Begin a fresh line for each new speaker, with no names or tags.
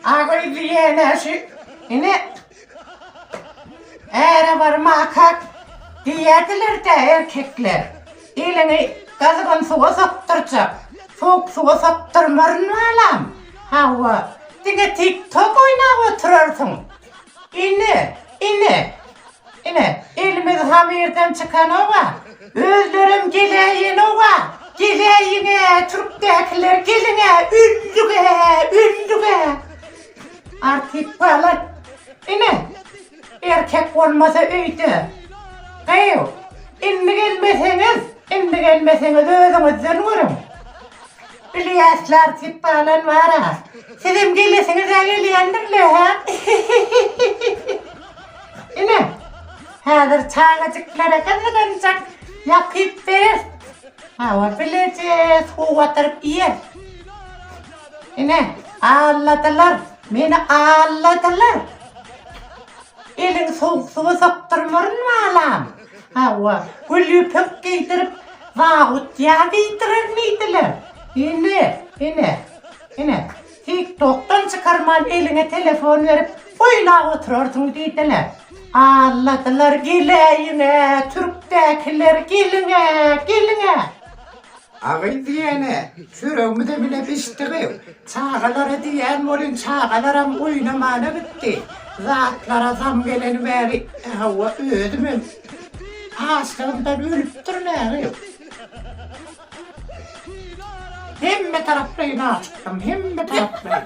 Agyýydy ýene şu ine äre bir makak diýýädiler-dä erkekler. Eliňi gyzgyn suwa sokdurjak. Sowuk suwa sokdurmaryn balam. Hawa, diňe tik-tok oýnap oturarsyň. Ine, ine, ine, elimiz hamyrdan çykanok-a, özlerem geläýenok-a, geläýiň-ä, türkdäkiler, geliň-ä, öldük-ä, öldük-ä! Artyk balat, ine, erkek bolmasa öýde, gyýw, indi gelmeseňiz, indi gelmeseňiz, özüňizden görüň! Ilyaslar siz balan bara sizem gelesiňizä gelýändirle hä ine häzir çagajyklara gyzganjak ýakyp berer hawa bileje suw batyryp iýer ine alladylar meni alladylar eliňi sowuk suwa sokdurmaryn balam. Hawa, gül ýüpek geýdirip, zabut ýa diýdirenmidiler? Ine, ine, ine, TikTok-dan çykarman eliňe telefon berip, oýlap oturarsyň diýdiler. Alladylar geläýiň-ä, türkdäkiler, geliň-ä, geliň-ä! Agyz diýene, çöregimize bile bişdigi, çagalara diýýän welin çagalaram oýnamana gitdi. Zatlara zam geleni bäri, hawa, özümem açlygymdan ölüpdirin äri. Hemme taraplaýyn açykdym, hemme taraplaýyn.